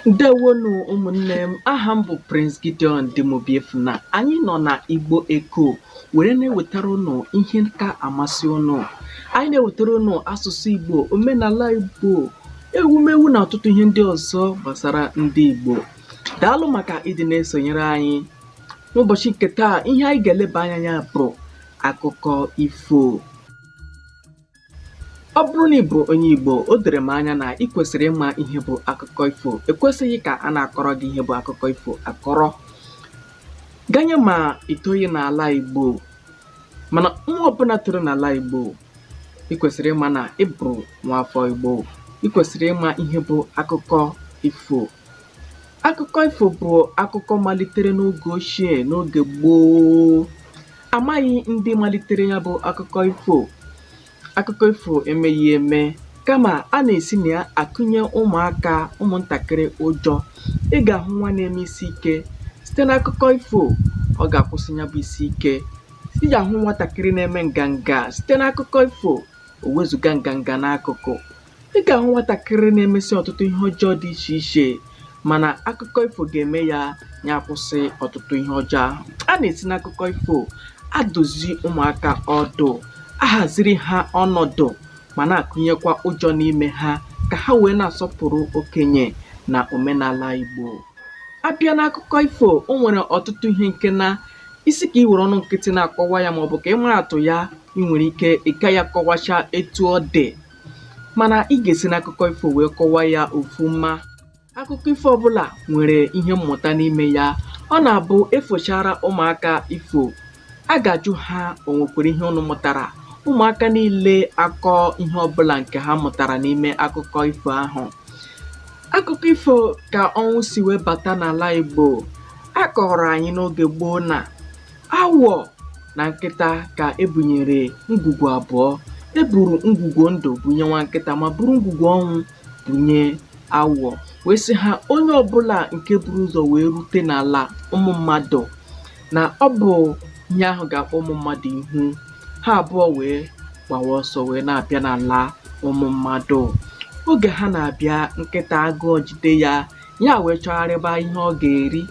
Ndewonu ụmụnne m, aha m bụ Prince Gideon Dim Obiefuna. Anyị nọ na Igbo Eko were na-ewetara ụnụ ihe ga-amasị ụnụ. Anyị na-ewetara ụnụ asụsụ Igbo, omenala Igbo, ewumewu na ọtụtụ ihe ndị ọzọ gbasara ndị Igbo. Daalụ maka ịdị na-esonyere anyị. N'ụbọchị nke taa, ihe anyị ga-eleba anya na ya bụ akụkọ ifo. Ọ bụrụ na ị bụrụ onye Igbo, o doro m anya na ị kwesịrị ịma ihe bụ akụkọ ifo. Ekwesịghị ka a na-akọrọ gị ihe bụ akụkọ ifo akọrọ. Ganye ma i toghị n'ala Igbo, mana nwa ọbụla toro n'ala Igbo, ị kwesịrị ịma na ị bụrụ nwaafọ Igbo. Ị kwesịrị ịma ihe bụ akụkọ ifo. Akụkọ ifo bụ akụkọ malitere n'oge ochie n'oge gboo. Amaghị ndị malitere ya bụ akụkọ ifo. Akụkọ ifo emeghị eme kama a na-esi na ya akụnye ụmụaka ụmụntakịrị ụjọ. Ị ga-ahụ nwa na-eme isi ike site n'akụkọ ifo ọ ga-akwụsị ya bụ isi ike. Ị ga-ahụ nwatakịrị na-eme nganga site n'akụkọ ifo o wezuga nganga n'akụkụ. Ị ga-ahụ nwatakịrị na-emesi ọtụtụ ihe ọjọọ dị iche iche mana akụkọ ifo ga-eme ya ya akwụsị ọtụtụ ihe ọjọọ ahụ. A na-esi n'akụkọ ifo adụzi ụmụaka ọdụ, ahaziri ha ọnọdụ ma na-akụnyekwa ụjọ n'ime ha ka ha wee na-asọpụrụ okenye na omenala Igbo. A bịa n'akụkọ ifo, o nwere ọtụtụ ihe nke na ị sị ka i were ọnụ nkịtị na-akọwa ya maọbụ ka ị maa atụ ya, i nwere ike ị gaghị akọwacha etu ọ dị. mana ị ga-esi n'akụkọ ifo wee kọwa ya ofuma akụkọ ifo ọbụla nwere ihe mmụta n'ime ya ọ na-abụ e fochara ụmụaka ifo a ga-ajụ ha o nwekwara ihe ụnụ mụtara ụmụaka niile akọọ ihe ọbụla nke ha mụtara n'ime akụkọ ifo ahụ akụkọ ifo ka ọnwụ si wee bata n'ala igbo a kọọrọ anyị n'oge gboo na Awọ na nkịta ka e bunyere ngwugwu abụọ. E buru ngwugwu ndụ bunye nwa nkịta ma buru ngwugwu ọnwụ bunye awọ wee sị ha onye ọbụla nke buru ụzọ wee rute n'ala ụmụ mmadụ na ọ bụ ihe ahụ ga-akpọ ụmụ mmadụ ihu. Ha abụọ wee gbawa ọsọ wee na-abịa n'ala ụmụ mmadụ. Oge ha na-abịa nkịta agụọ jide ya ya wee chọgharịba ihe ọ ga-eri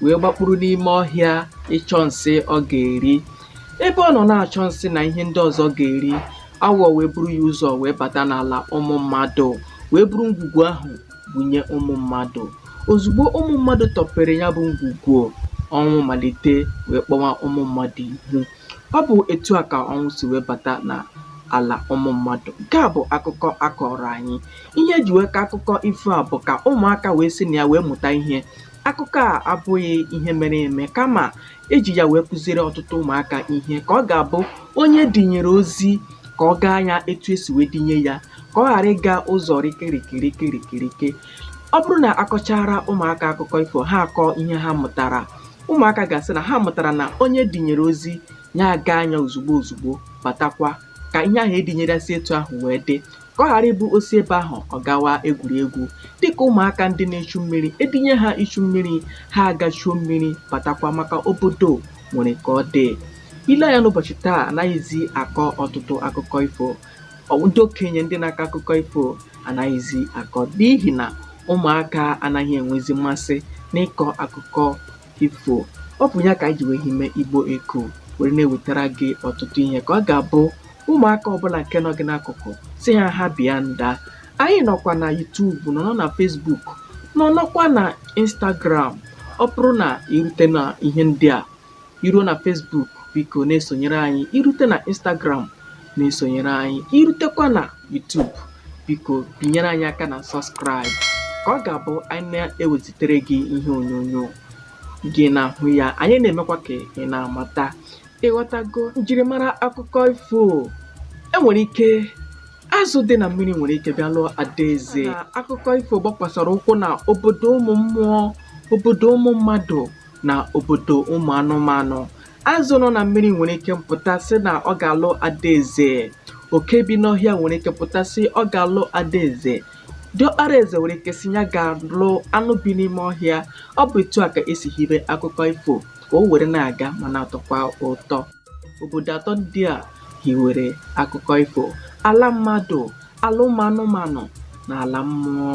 wee gbakpuru n'ime ọhịa ịchọ nsị ọ ga-eri ebe ọ nọ na-achọ nsị na ihe ndị ọzọ ọ ga-eri awọ wee buru ya ụzọ wee bata n'ala ụmụ mmadụ wee buru ngwugwu ahụ bunye ụmụ mmadụ ozugbo ụmụ mmadụ tọpere ya bụ ngwugwu ọnwụ malite wee kpọwa ụmụ mmadụ ihu Ọ bụ etu a ka ọnwụ si wee bata na ala ụmụ mmadụ. Nke a bụ akụkọ a kọọrọ anyị. Ihe e ji wee kọọ akụkọ ifo a bụ ka ụmụaka wee si na ya wee mụta ihe. Akụkọ a abụghị ihe mere eme kama e ji ya wee kụziere ọtụtụ ụmụaka ihe ka ọ ga-abụ onye dinyere ozi ka ọ gaa ya etu e si wee dinye ya ka ọ ghara ịga ụzọ rikirikirikirikirike. Ọ bụrụ na a kọchara ụmụaka akụkọ ifo ha akọọ ihe ha mụtara ụmụaka ga-asị na ha mụtara na onye dinyere ozi ya agaa ya ozugbo ozugbo batakwa ka ihe ahụ e dinyere si etu ahụ wee dị ka ọ ghara ịbụ o si ebe ahụ ọ gawa egwuregwu dịka ụmụaka ndị na-echu mmiri e dinye ha ichu mmiri ha aga chuo mmiri batakwa maka obodo nwere ka ọ dị i lee anya n'ụbọchị taa anaghịzi akọ ọtụtụ akụkọ ifo ọ- ndị okenye ndị na-akọ akụkọ ifo anaghịzi akọ n'ihi na ụmụaka anaghị enwezi mmasị n'ịkọ akụkọ ifo ọ bụ ya ka anyị ji wee hibe igbo eko were na-ewetara gị ọtụtụ ihe ka ọ ga-abụ ụmụaka ọbụla nke nọ gị n'akụkụ sị ha ha bịa nda anyị nọkwa na youtube nọ nọ na facebook nọ nọkwa na instagram ọ bụrụ na i rute na ihe ndị a i ruo na Facebook biko na-esonyere anyị i rute na Instagram na-esonyere anyị i rutekwa na YouTube biko binyere anyị aka na subscribe ka ọ ga-abụ anyị na-ewezitere gị ihe onyonyo gị na-ahụ ya anyị na-emekwa ka ị na-amata ị ghọtago njirimara akụkọ ifo e nwere ike azụ dị na mmiri nwere ike bịa lụọ adaeze akụkọ ifo gbakwasara ụkwụ na obodo ụmụ mmụọ obodo ụmụ mmadụ na obodo ụmụ anụmanụ azụ nọ na mmiri nwere ike mpụta sị na ọ ga-alụ adaeze oke bi n'ọhịa nwere ike pụta sị ọ ga-alụ adaeze diọkpara eze nwere ike sị ya ga-alụ anụ bi n'ime ọhịa ọ bụ etu a ka e si hibe akụkọ ifo ka o were na-aga ma na-atọkwa ụtọ obodo atọ ndị a hiwere akụkọ ifo ala mmadụ ala ụmụ anụmanụ na ala mmụọ